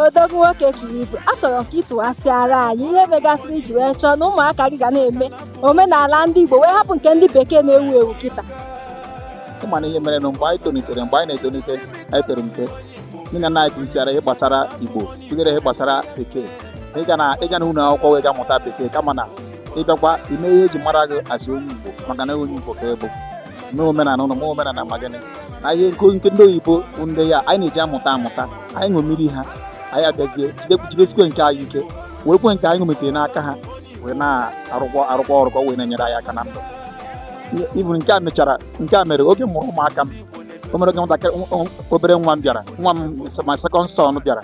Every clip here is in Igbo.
odogwu nwoke ka ị bụ achọrọ m ka ị tụghasịara anyị ihe megasịrị i ji wee chọọ na ụmụaka gị ga na-eme omenala ndị Igbo wee hapụ nke ndị bekee na-ewu ewu kịta ị ma na ihe mere na mgbe anyị tolitere mgbe anyị na-etolite anyị pere mpe nne na nna anyị kụzichara ihe gbasara Igbo tinyere ihe gbasara bekee ịga na ịga na ụlọ akwụkwọ wee ga mụta bekee kama na ị gakwa ime ihe e ji mara gị as onye Igbo maka na onye Igbo ka ị bụ mee omenala ụlọ mee omenala ma gịnị na ihe nke nke ndị oyibo bụ ndị ya anyị na-eji amụta amụta anyị ṅomiri ha anyị abịazie jide- jidesikwe nke anyị ike werekwe nke anyị ṅomitere n'aka ha wee na-arụkwa arụkwa ọrụ ka ọ wee na-enyere anyị aka na ndụ i buru nke a mechara nke a mere oge m mụrụ ụmụaka m o mere oge nwatakịrị nwa- nwa- obere nwa m bịara nwa m my second son bịara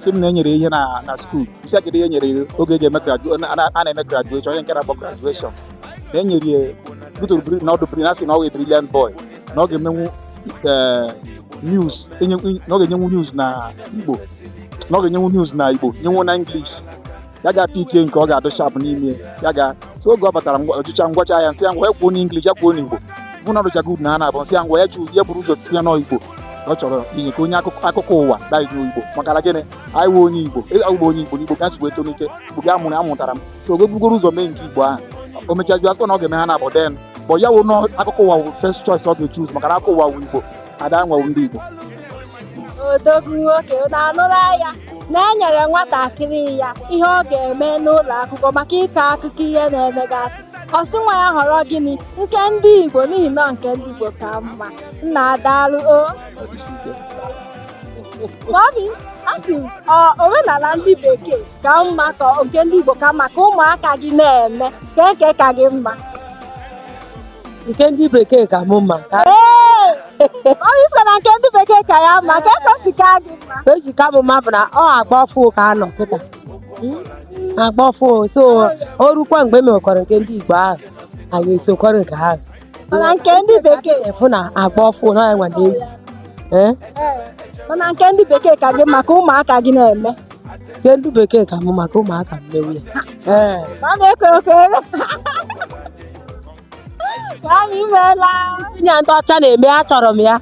sị m na e nyere ihe na na school isi agịdị ihe nyere oge eji eme graduation a na-eme graduation onye nke na-akpọ graduation na e nyere ya butoro bri- na ọ dụ bri- na a sị na ọ wụ brilliant boy na ọ ga-emenwu eh, news enye- na ọ ga-enyenwu news na igbo na ọ ga-enyenwu news na igbo nyenwu na english ya ga pick nke ọ ga-adụ sharp n'ime ya ga so oge ọ batara ngwa- ọchịcha ngwacha ya m sị ya ngwa ya kwuo n'english ya kwuo n'igbo m hụ na ọ dụcha good na ha naabọ m sị ya ngwa ya ju ya buru ụzọ si ya n'igbo ọ chọrọ inye ka onye akụkọ akụkọ ụwa na igbo igbo maka na gịnị anyị wụ onye igbo ịgba onye igbo n'igbo ka nsogbu etolite igbo gị amụrụ amụtara m so o bugoro ụzọ mee nke igbo ahụ o mechazi a sị na ọ ga-eme ha naabọ then bụ ya wụ n'akụkọ ụwa wụ first choice ọ ga-echoose maka na akụkọ ụwa wụ igbo ada nwa ndị igbo odogwu nwoke na anụrụ ya na-enyere nwatakịrị ya ihe ọ ga-eme n'ụlọ akwụkwọ maka ịkọ akụkọ ihe na-emegasị ọ sị nwa ya họrọ gịnị nke ndị igbo n'ihi na nke ndị igbo ka mma nna daalụ o mummy a sị m omenala ndị bekee ka mma ka nke ndị Igbo ka mma ka ụmụaka gị na-eme kee nke ka gị mma nke ndị bekee ka mụ mma ka ee onye a sị na nke ndị bekee ka ya mma kee ka o si ka gị mma ka o ji ka mụ mma bụ na ọ agba ọfụ ka a nọ kịta Mm, agba ọfụ so o rukwa mgbe e mekwara nke ndị Igbo ahụ anyị esokwara nke ahụ mana nke ndị bekee efu na agba ọfụ na enwe na egwu ee mana nke ndị bekee ka gị mma ka ụmụaka gị na-eme nke ndị bekee ka mụ mma ka ụmụaka m mewe ya ee ma a na-ekwe ekwe ka anyị meela tinye ndị ọcha na-eme achọrọ m ya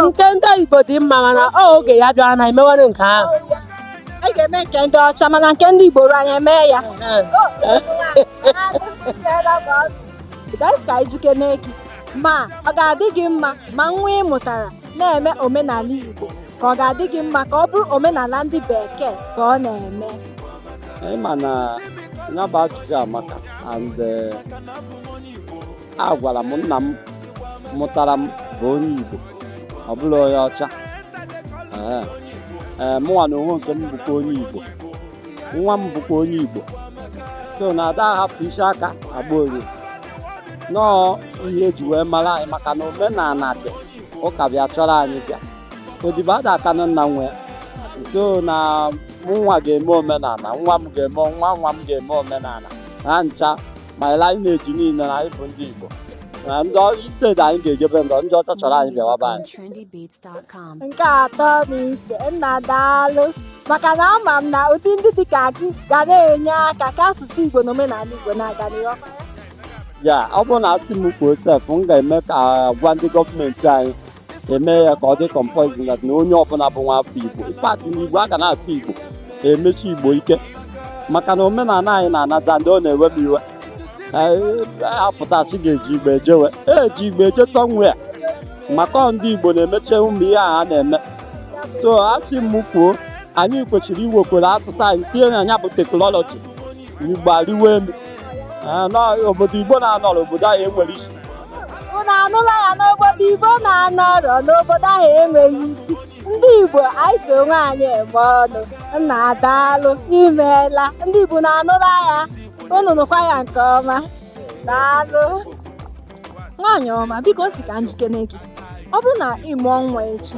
nke ndị Igbo dị mma mana ọ oge ya bịara na e mewere nke ahụ anyị ga-eme nke ndị ọcha mana nke ndị Igbo anyị eme ya ka m jụkene gị ma ọ ga-adị gị mma ma nwa ị mụtara na-eme omenala Igbo ka ọ ga-adị gị mma ka ọ bụrụ omenala ndị bekee ka ọ na-eme ị ma na ya bụ ajụjụ amaka and eh, agwara m nna m mụtara m bụ onye Igbo ọ bụrọ onye ọcha ee ee mụnwa na onwe nke m bụkwa onye Igbo nwa m bụkwa onye Igbo so na ada ahapụ isi aka agba ụrịọ na ọ ọ ihe eji wee mara anyị maka na omenala dị ụka bịa chọrọ anyị bịa odibo ada akanụ nna nwe e so na mụnwa ga-eme omenala nwa m ga-eme nwa nwa m ga-eme omenala ha ncha ma lineage niile na anyị bụ ndị Igbo na instead anyị ga-ejebe ndọ ndị ọcha chọrọ anyị bịawa be anyị nke atọ na iche nna daalụ maka na ama m na ụdị ndị dị ka gị ga na-enye aka ka asụsụ igbo na omenala igbo na-aga n'ihu ya ọ bụrụ na asị m kwuo sef m ga-eme ka a gwa ndị gọọmenti anyị e mee ya ka ọ dị compulsory na onye ọbụla bụ nwa afọ igbo in fact na igbo a ga na-asụ igbo emesi igbo ike maka na omenala anyị na-anazị and ọ na-ewe m iwe a pụta sị ị ga-eji igbo eje where eji igbo eje somewhere maka ọ ndị igbo na-emecha ụmụ ihe a na-eme so asị m kwuo anyị kwesịrị iwekwere asụsụ anyị tinye na ya bụ teknọlọji igbo ariwo elu Ee, na obodo igbo na-anọrọ obodo ahụ enwerọ isi Unu anụla ya n'obodo Igbo na-anọrọ n'obodo ahụ enwerọ isi. Ndị Igbo anyị ji onwe anyị eme ọnụ. Nnaa daalụ imeela. Ndị Igbo unu anụla ya. Unu nụkwa ya nke ọma. Daalụ. Nwaanyị ọma, biko si ka m jụkene gị. Ọ bụrụ na ị mụọ nwa echi,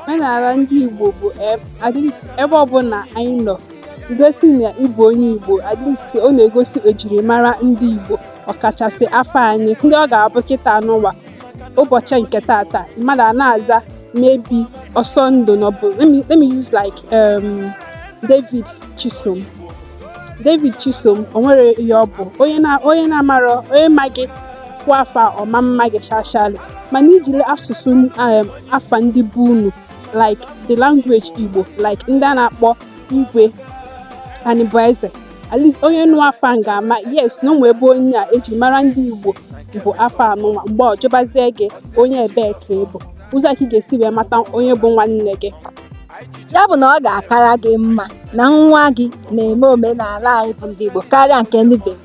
omenala ndị Igbo bụ ebe ọbụla anyị nọ igosi na ịbụ onye Igbo at least ọ na-egosi ejirimara ndị Igbo ọkachasị afa anyị and ọ ga-abụ kịta nwa ụbọchị nke tata mmadụ a na-aza maybe Ọsọndụ n'ọbụ let me use like um, David Chisom David Chisom o nwere ihe ọ bụ onye na-amarọ onye ma gị kwuo afa ọ ma ama gị shashali mana i jiri asụsụ um, afa ndị be unu like the language igbo like ndị a na-akpọ Igwe Anịbụeze at least onye nụ afa m ga-ama yes na o nwe ebe onye a eji mara ndị igbo bụ afa anụnwa mgbe ọ jụbazie gị onye ebee ka ị bụ ụzọ ka ị ga-esi wee mata onye bụ nwanne gị ya bụ na ọ ga-akara gị mma na nwa gị na-eme omenala anyị bụ ndị Igbo karịa nke ndị bekee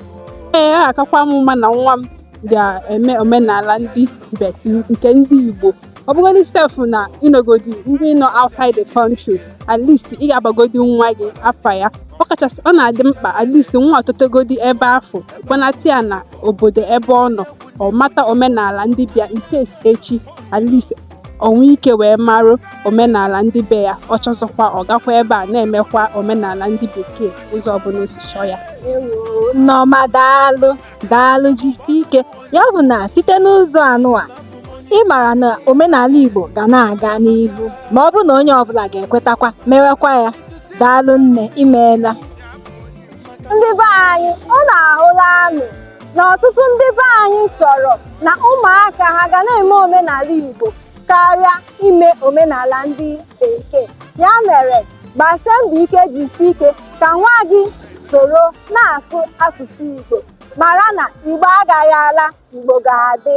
ọ ga-akakwa m mma na nwa m ga-eme omenala ndị be anyị nke ndị Igbo ọ bụgodị sef na ị nọgodi ndị nọ outside the country at least ị ga-abagodi nwa gị afa ya ọ kachasị ọ na-adị mkpa at least nwa ọ totegodi ebe afụ a kpọnata ya na obodo ebe ọ nọ ọ mata omenala ndị be ya nke echi at least o nwee ike wee marụ omenala ndị be ya ọ chọzikwa ọ gakwa ebe a na-emekwa omenala ndị bekee ụzọ ọbụla o si chọọ ya Nneọma daalụ daalụ jisi ike ya bụ na site n'ụzọ anụwa ị mara na omenala Igbo ga na-aga n'ihu ma ọ bụrụ na onye ọbụla ga-ekwetakwa mewekwa ya daalụ nne imeela ndị be anyị unu ahụlanụ na ọtụtụ ndị be anyị chọrọ na ụmụaka ha ga na-eme omenala Igbo karịa ime omenala ndị bekee ya mere gbasie mbọ ike jisie ike ka nwa gị soro na-asụ asụsụ Igbo mara na Igbo agaghị ala Igbo ga-adị